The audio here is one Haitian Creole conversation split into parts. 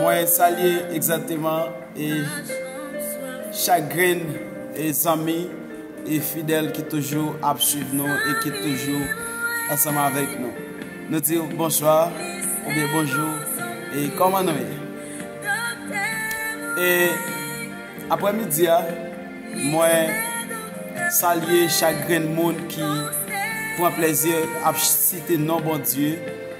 Mwen salye egzateman e chak grenn e zanmi e fidèl ki toujou ap suiv nou e ki toujou ansanm avèk nou. Nou di ou bonswa ou byen bonjou e kòman nou ye. E apre midi a, mwen salye chak grenn moun ki pran plezi ap site non Bondye.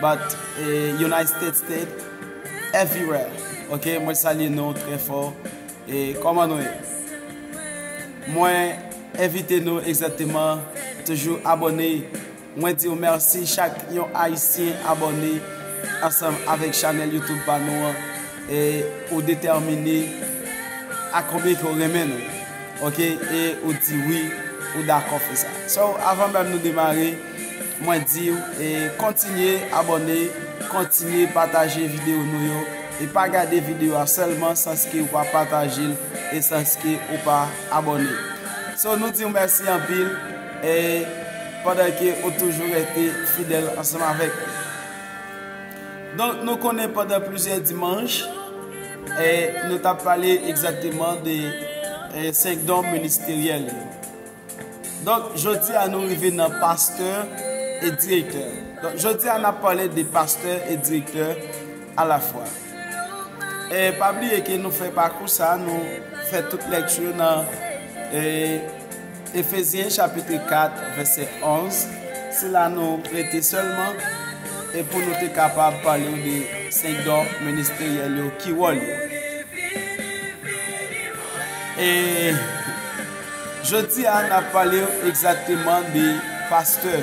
But United States state everywhere ok mwen salye nou trè fò e kòman nou ye mwen envite nou egzatèman toujou abone mwen diw merci chak yon ayisyen abone ansanm avèk chanèl youtube pa nou an e ou detèmine a konbyen ke ou renmen nou ok e ou di wi ou dakò fè sa so avan menm nou demare Mwen diw e kontinye abòne kontinye pataje video nou yo e pa gade video a sèlman sans ke ou pa patajel e sans ke ou pa abòne so nou diw mèsi anpil e pandan ke ou toujou rete fidèl ansanm avèk donk nou konnen pandan plizyè dimanch e nou tap pale egzateman de 5 don ministeryèl yo Donk jodi a nou rive nan pastè e direktè. Donk jodi a n ap pale de pastè e direktè a la fwa. E pa bliye ke nou fè pakou sa, nou fè tout lekti yo nan e, Efezyen chapitre 4 vèsè 11. Se la nou rete sèlman e pou nou te kapab pale yo de senk don ministeryèl yo, ki wòl yo. E Jodi a nap pale w egzakteman de pastè.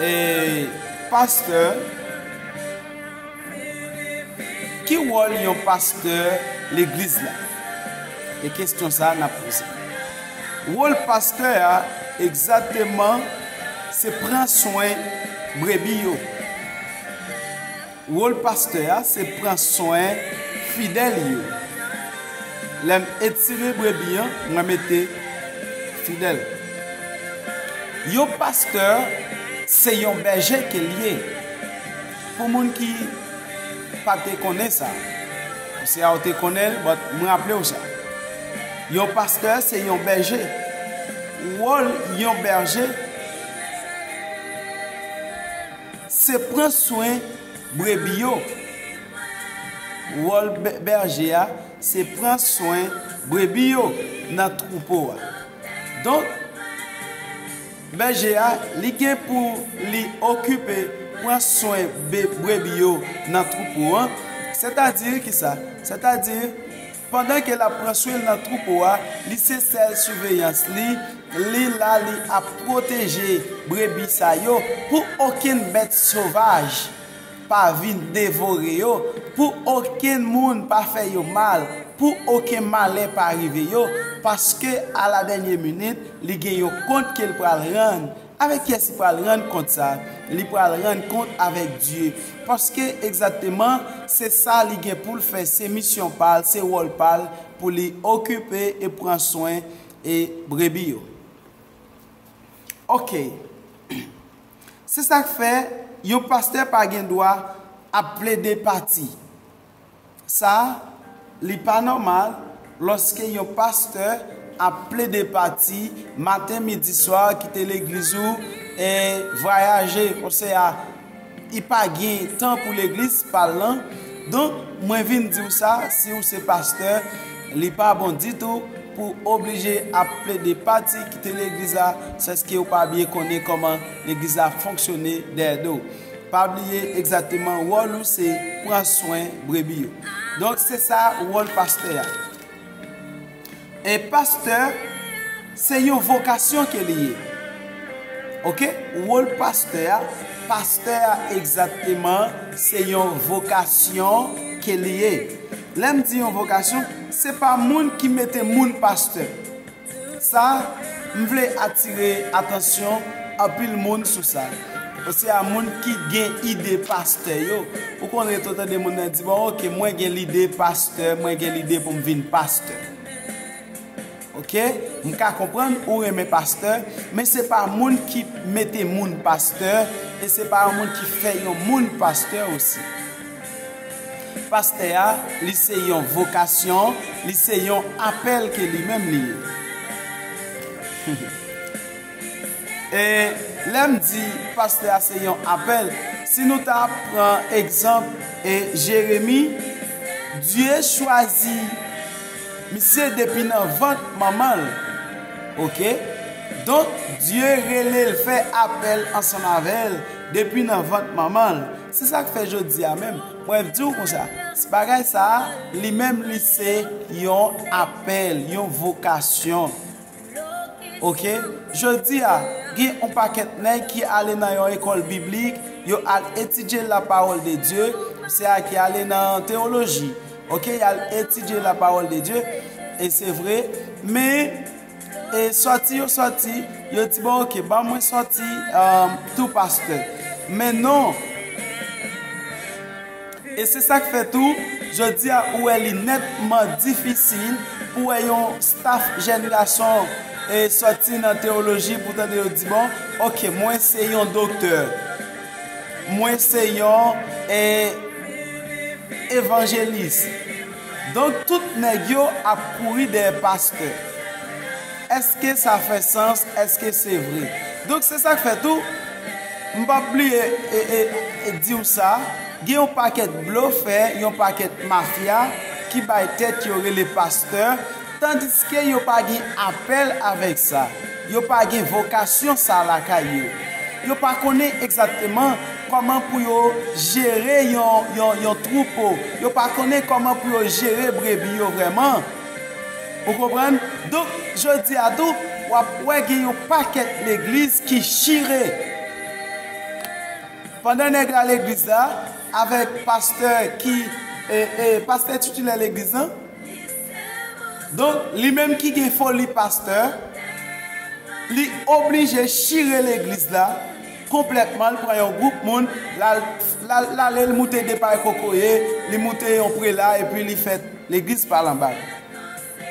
E pastè, ki wòl yon pastè legliz la? E kestyon sa nap poze. Wòl pastè a egzakteman se pran swen brebi yo. Wol pastè a se pran swen fidèl yo lèm etire brebi an mwen mete fidèl yo pastè se yon bèje kel ye pou moun ki Pate konnen sa se a ou te konnenl but m raplew sa yon pastè se yon bèje wol yon bèje. Se pran swen brebi yo. Wòl bèje a se pran swen brebi yo nan twoupo a. Donk, bèje a, li gen pou li okipe, pran swen brebi yo nan twoupo a. Sètadi ki sa? Sètadi. Pandan ke lap pran swen nan troupo a, li se sèl suveyans li, li la li ap pwoteje brebi sa yo pou okenn bèt sovaj pa vin devore yo, pou okenn moun pa fè yo mal, pou oken malè pa rive yo, paske a la dènye minit li gen yon kont ke l pral rann Avèk kyès li pral rann kont sa? Li pral rann kont avèk Dye. Paske, egzakteman, se sa li gen pou l fè, se misyon pa l, se wòl pa l pou li okipe e pran swen e brebi yo. Ok. Se sa k fè, yon pastè pa gen dwa ap plede pati. Sa Li pa nòmal lòske yon pastè ap plede pati maten midi swa kite legliz ou e vwayaje konse a I pa gen tan pou legliz pal lan donk mwen vin diw sa si ou se pastè Li pa bon ditou pou oblije ap plede pati kite legliz la sèske ou pa byen konnen kòman legliz la fonksyone dèyè do. Pa bliye egzateman wòl ou se pran swen brebi yo. Donk se sa wòl pastè a. E pastè se yon vokasyon ke li ye. Ok, wòl pastè a, pastè a egzateman se yon vokasyon ke li ye. Lè m di yon vokasyon, se pa moun ki mete moun pastè. Sa, m vle atire atansyon anpil moun sou sa. Osé a moun ki gen ide pastè yo. Ou konn ret ou tande moun nan di bon ok mwen gen lide pastè, mwen gen lide pou m vin pastè. Ok, m ka konprann ou renmen pastè, men se pa moun ki mete moun pastè e se pa yon moun ki fè yon moun pastè osi. Pastè a, li se yon vokasyon, li se yon apèl ke li menm li ye. E lè m di pastè a se yon apèl, si nou ta pran egzanp e Jeremi, Dye chwazi misye depi nan vant manman l. Ok? Donk Dye rele l fè apèl ansanm avè l depi nan vant manman l. Se sak fè jodi a menm mwen diw konsa se bagay sa li menm li se yon apèl yon vokasyon ok jodi a gen yon pakèt nèg ki ale nan yon ekòl biblik yo al etidye la pawòl de Dye se a ki ale nan teoloji ok yal etidye la pawòl de Dye e se vre men E sòti yo sòti, yo di bon ok, ban mwen sòti um, tou pastè. Men non, E se sa k fè tou, jodi a ou wè li netman difisil pou wè yon staf jèn gason e soti nan teoloji pou tande yo di bon, ok mwen se yon doktè, mwen se yon e, evanjelis. Donk tout nèg yo ap kouri dèyè pastè eske sa fè sans eske se vre donk se sak fè tou m pap bliye diw sa gen yon pakèt blofè yon pakèt mafya ki bay tèt yo rele pastè Tandiske yo pa gen apèl avèk sa, yo pa gen vokasyon sa lakay yo, yo pa konnen egzatteman kòman pou yo jere yon twoupo, yo pa konnen kòman pou yo jere brebi yo vrèman. Ou konprann? Donk, jodi a tou, w ap wè gen yon pakèt legliz ki chire. Pandan nèg la legliz la, avèk pastè ki, pastè titilè legliz lan, Donk li menm ki gen foli pastè, li oblije chire legliz la konplètman, l pran yon gwoup moun, l ale l moute de pay kokoye, li moute yon prela epi li fè legliz pa l anba l.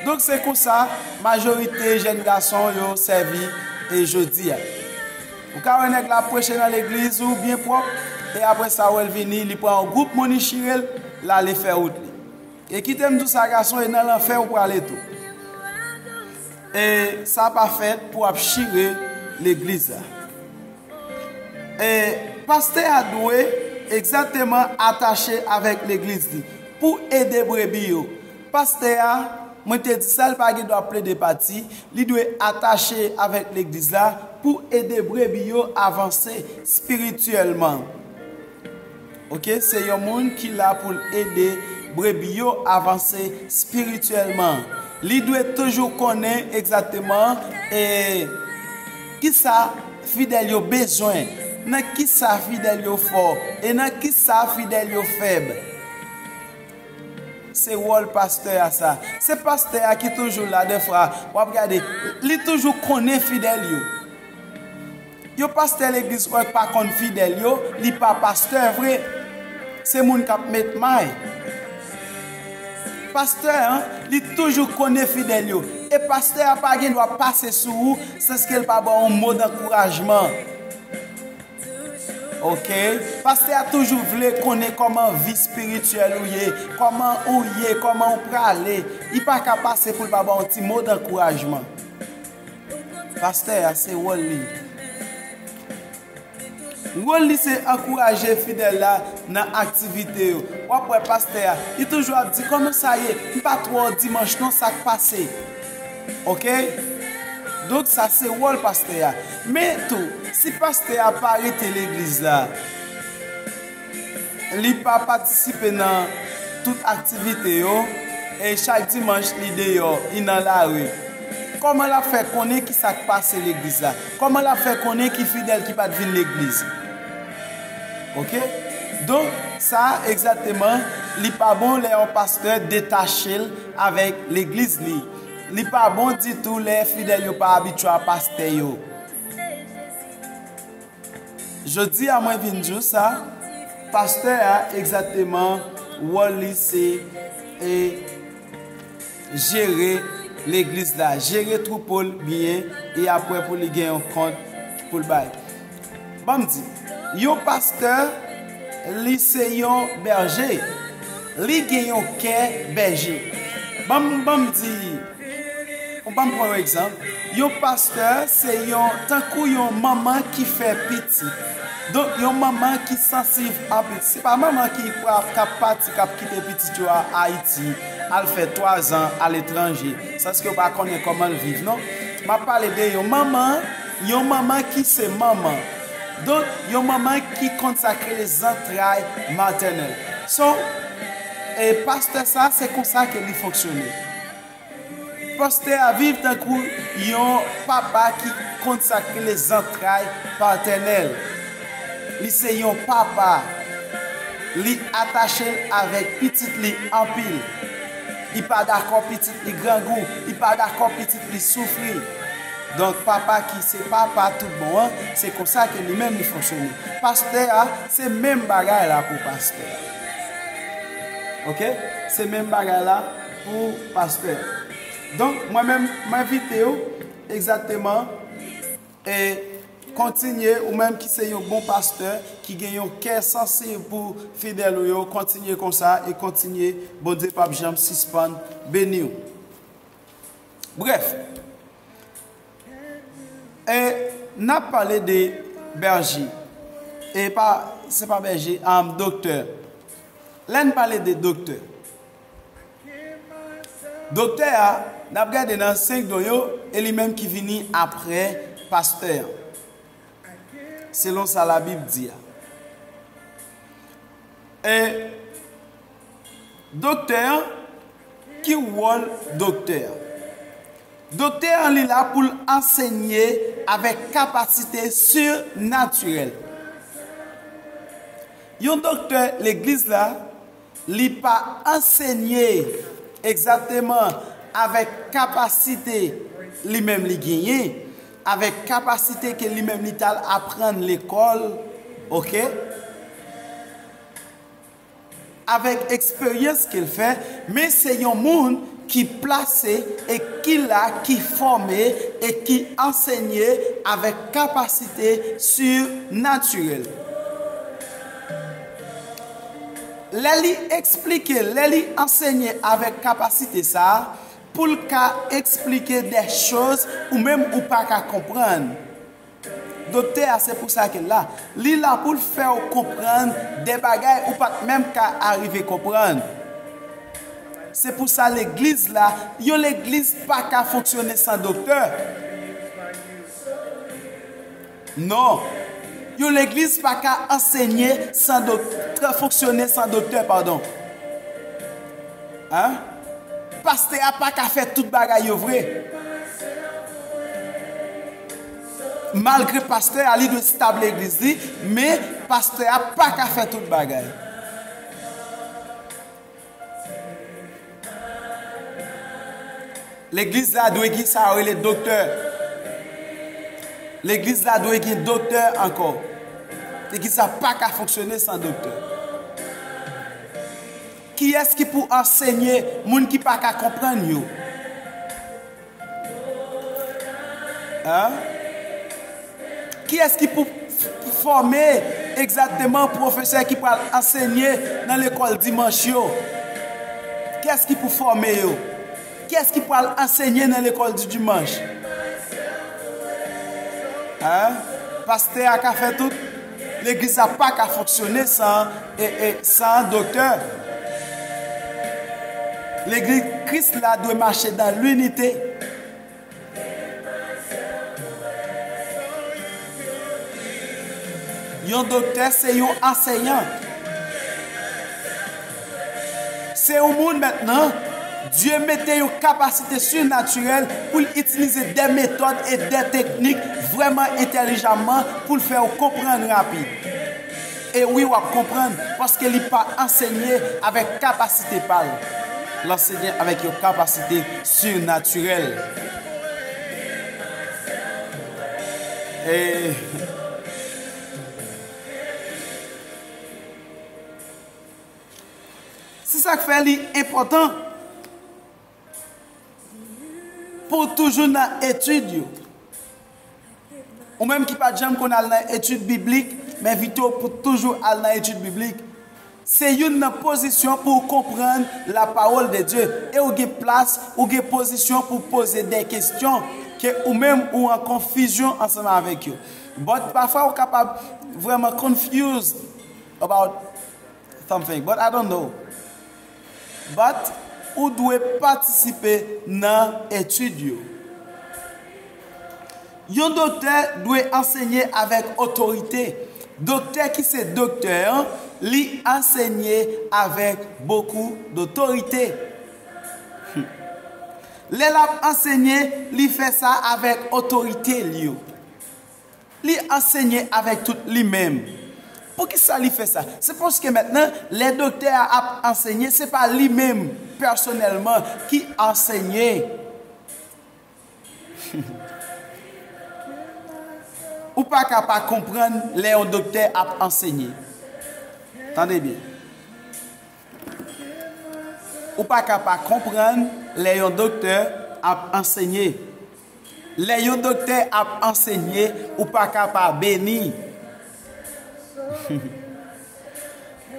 Donk se konsa majorite jèn gason yo sèvi e jodi a. Ou ka wè nèg la ap preche nan legliz ou byen pwòp e apre sa wè l vini li pran yon gwoup moun li chire l, l ale fè wout li. E kitem diw sa gason e nan lanfè ou prale tou e sa pa fèt pou ap chire legliz la e pastè a dwe egzateman atache avèk legliz li pou ede brebi yo pastè a mwen te di sal pa gen dwa plede pati li dwe atache avèk legliz la pou ede brebi yo avanse spirityèlman. Ok, se yon moun ki la pou l ede brebi yo avanse spirityèlman. Li dwe toujou konnen egzakteman ki sa fidèl yo bezwen, nan ki sa fidèl yo fò, e nan ki sa fidèl yo fèb. Se wòl pastè a sa. Se pastè a ki toujou la dèfwa. W ap gade, li toujou konnen fidèl yo. Yon pastè legliz kwèk pa konn fidèl yo li pa pastè vre se moun kap met may pastè an li toujou konnen fidèl yo e pastè a pa gen dwa pase sou ou sanskel pa baw yon mo dankourajman ok pastè a toujou vle konnen kòman vi spirityèl ou ye kòman ou ye kòman ou prale li paka pase poul pa baw yon ti mo dankourajman. Pastè a se wòl li. Wòl li se ankouraje fidèl la nan aktivite yo. W ap wè pastè a, li toujou ap di kòman sa ye, m pa t wè w dimanch non sa k pase. Ok? Donk sa se wòl pastè a. Men tou, si pastè a pa rete legliz la. Li pa patisipe nan tout aktivite yo e chak dimanch li deyò, li nan lari. Kòman l ap fè konnen ki sa k pase legliz la? Kòman l ap fè konnen ki fidèl ki pa t vin legliz? Oke? Donk, sa a egzakteman, li pa bon lè yon pastè detache l avèk legliz li. Li pa bon ditou lè fidèl yo pa abitye a pastè yo. Jodi a mwen vin diw sa, pastè a egzateman wòl li se e jere legliz la, jere twoupo l byen e apre pou li gen yon kont pou l bay. Banm di, yon pastè li se yon bèje, li gen yon kè bèje. Banm di. Ou banm pran yon egzanp, yon pastè se yon tankou yon manman ki fè pitit. Donk yon manman ki sansiv a pitit. Se pa manman ki prap kap pati kap kite pitit yo a Ayiti, al fè 3 zan aletranje, sanske yo pa konnen koman l viv non. Map pale de yon manman, yon manman ki se manman. Donk yon manman ki konn sa k rele zantray matènèl. So, e pastè sa se konsa ke li fonksyone. Pastè a viv tankou yon papa ki konsakre le zantray patènèl. Li se yon papa. Li atache l avèk pitit li anpil. Li pa dakò pitit li grangou. Li pa dakò pitit li soufri. Donk papa ki se papa tout bon an, se konsa ke li menm li fonksyone. Pastè a, se menm bagay la pou pastè a. Ok? Se menm bagay la. Pou pastè. Donk mwen menm m envite w egzateman e kontinye ou menm ki se yon bon pastè ki gen yon kè sansib pou fidèl ou yo kontinye konsa e kontinye Bondye pap janm sispann beni w. Brèf e n ap pale de bèje e pa se pa bèje am doktè lè n pale de doktè Doktè a nap gade nan 5 don yo e li menm ki vini aprè pastè an selon sa la bib di a e doktè an ki wòl doktè a doktè an li la poul ansegne avèk kapasite sur natirèl yon doktè legliz la Li pa ansenye egzakteman avèk kapasite li menm li genyen, avèk kapasite ke li menm li tal aprann lekòl, ok, avèk eksperyans ke l fè, men se yon moun ki plase e ki la, ki fòme e ki ansenye avèk kapasite surnaturel. Lè li esplike, lè li ansenye avèk kapasite sa a pou l ka esplike dè choz ou menm ou pa ka konprann. Doktè a se pou sa ke l la. Li la pou l fè w konprann dè bagay ou pa t menm ka arive konprann. Se pou sa legliz la, yon legliz pa ka fonksyone san doktè. Non! Yon legliz pa ka ansenye san doktè, fonksyone san doktè, padon. An? Pastè a pa ka fè tout bagay yo vre. Malgre pastè a, li dwe stab legliz li, men pastè a pa ka fè tout bagay. Legliz la dwe gen sa yo rele doktè. Legliz la dwe gen doktè ankò. Legliz la pa ka fonksyone san doktè. Kiyès ki pou ansenye moun ki pa ka konprann yo? Kiyès ki pou fòme egzakteman pwofesè ki pral ansenye nan lekòl dimanch yo? Kiyès ki pou fòme yo? Kiyès ki pral ansenye nan lekòl di dimanch? Pastè a ka fè tout? Legliz la pa ka fonksyone san san doktè. Legliz Kris la dwe mache dan linite. Yon doktè se yon anseyan. Se yon moun mentnan, Dye mete yon kapasite surnaturèl pou l itilize de metòd e de teknik vrèman entèlijamman pou l fè w konprann rapid. E wi w ap konprann paske li pa ansenye avèk kapasite pa l. L ansenye avèk yon kapasite surnaturèl. E. Se sa k fè li enpòtan pou w toujou nan etid yo. Ou menm ki pa t janm konn al nan etid biblik, m envite w pou w toujou al nan etid biblik. Se youn nan pozisyon pou w konprann lapawòl de Dye e w gen plas, ou gen pozisyon pou w poze de kesyon ke ou menm ou an konfizyon ansanm avèk yo. But pafwa ou kapab vrèman confused. about something but I don't know but ou dwe patisipe nan etid yo yon doktè dwe ansenye avèk otorite doktè ki se doktè an li ansenye avèk bokou dotorite lè lap ansenye li fè sa avèk otorite l yo. Li ansenye avèk tout li menm. Poukisa li fè sa? Se paske mentnan, lè doktè a ap ansenye, se pa li menm, pèsonèlman, ki ansenye. Ou pa ka pa konprann lè yon doktè ap ansenye. Tande byen. Ou pa ka pa konprann lè yon doktè ap ansenye. Lè yon doktè ap ansenye ou pa ka pa beni.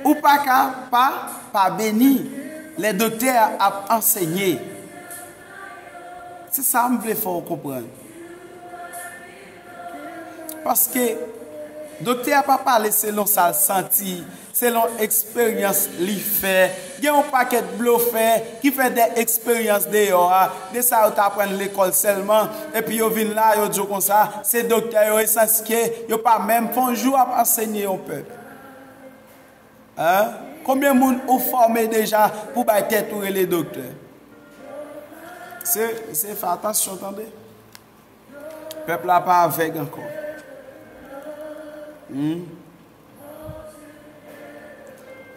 Ou pa ka pa pa beni lè doktè a ap ansenye. Se sa m vle fè w konprann. Paske doktè a pa pale selon sa l santi. Selon eksperyans li fè, gen yon pakèt blofè ki fè de eksperyans deyò a, de sa yo t aprann lekòl sèlman, epi yo vin la, yo di w konsa, se doktè yo e sanske yo pa menm fè yon jou ap ansenye yon pèp. Konbyen moun ou fòme deja pou bay tèt ou rele doktè? Se fè atansyon tande. Pèp la pa avèg ankò.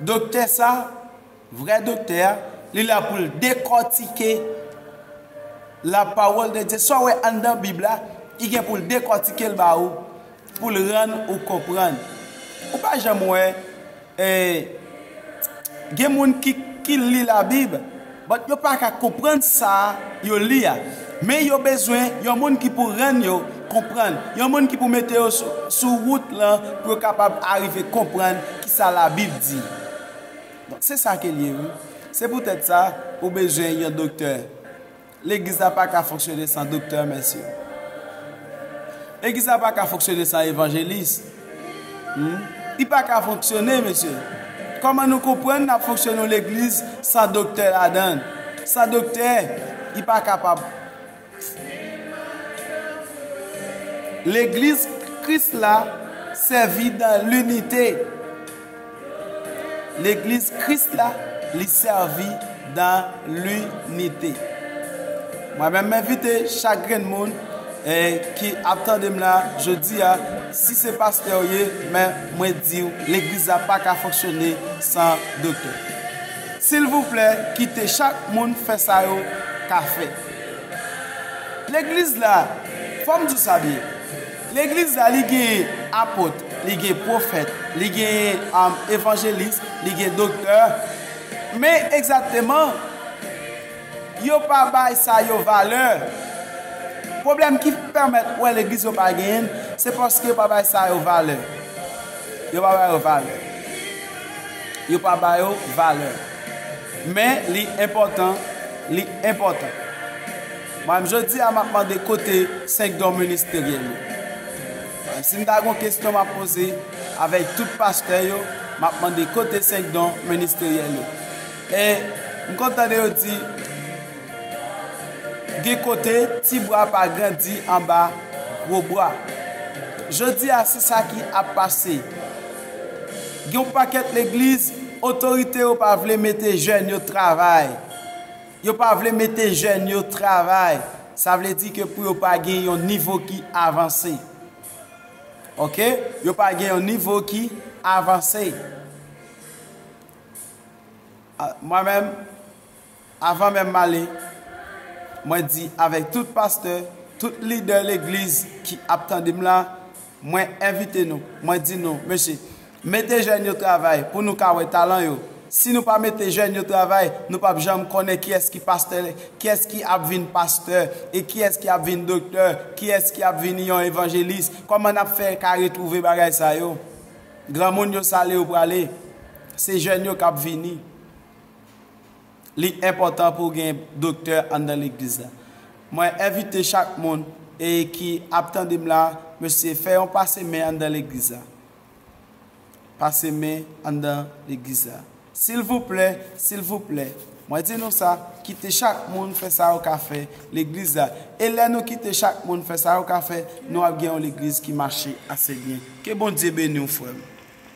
Doktè sa, vrè doktè a, li la pou l dekòtike lapawòl de Dye. Sa w wè anndan Bib la, li gen pou l dekòtike l ba ou, pou l rann ou konprann. Ou pa janm wè gen moun ki li Labib. But yo pa ka konprann sa yo li a. Men yo bezwen yon moun ki pou rann yo konprann, yon moun ki pou mete yo sou wout lan pou yo kapab arive konprann ki sa labib di. Donk se sa ke l ye wi. Se poutèt sa ou bezwen yon doktè. Legliz la pa ka fonksyone san doktè mesye. Legliz la pa ka fonksyone san evanjelis. Li pa ka fonksyone mesye. Koman nou konprann nap fonksyone yon legliz san doktè ladann. San doktè li pa kapab. Legliz kris la sèvi dan linite. Legliz Kris la li sèvi dan linite. Mwen menm menvite chak grenn moun ki ap tande m la jodi a, si se pastè ou ye, men mwen di ou legliz la pa ka fonksyone san doktè. Silvouplè kite chak moun fè sa yo ka fè. Legliz la, fò m di ou sa byen, Legliz la li gen apot, li gen pwofèt, li gen evanjelis, li gen doktè, men egzateman yo pa bay sa yo valè. Pwoblèm ki pèmèt ou wè legliz yo pa gen, se paske yo pa bay sa yo valè. Yo pa ba yo valè. Yo pa ba yo valè. Men li enpòtan, li enpòtan. Mwen menm jodi a map mande kote 5 don ministeryen yo. Menm si m ta gon kesyon map poze avèk tout pastè yo map mande kote 5 don ministeryen yo. E m konn tande yo di gen kote ti bwa pa grandi anba gwo bwa. Jodi a se sa ki ap pase. Gen yon pakèt legliz otorite yo pa vle mete jèn yo travay. Yo pa vle mete jèn yo travay sa vle di ke pou yo pa gen yon nivo ki avanse ok yo pa gen yon nivo ki avanse mwen menm avan menm male mwen di avèk tout pastè tout lidè legliz ki ap tandem la Mwen envite nou, mwen di nou, mesye, mete jèn yo travay pou nou ka wè talan yo. Si nou pa mete jèn yo travay, nou p ap janm konnen kiyès ki pastè, kiyès ki ap vin pastè, e kiyès ki ap vin doktè, kiyès ki ap vini yon evanjelis. Kòman n ap fè ka retwouve bagay sa yo? Granmoun yo sa lè yo prale? Se jèn yo k ap vini. li enpòtan pou gen doktè anndan legliz la. Mwen envite chak moun e ki ap tande m la mesye fè yon pase men anndan legliz la. Pase men anndan legliz la. Silvouplè, silvouplè, mwen di nou sa, kite chak moun fè sa yo ka fè legliz la. E lè nou kite chak moun fè sa yo ka fè, nou ap gen yon legliz ki mache ase byen. Ke Bondye beni w frè m.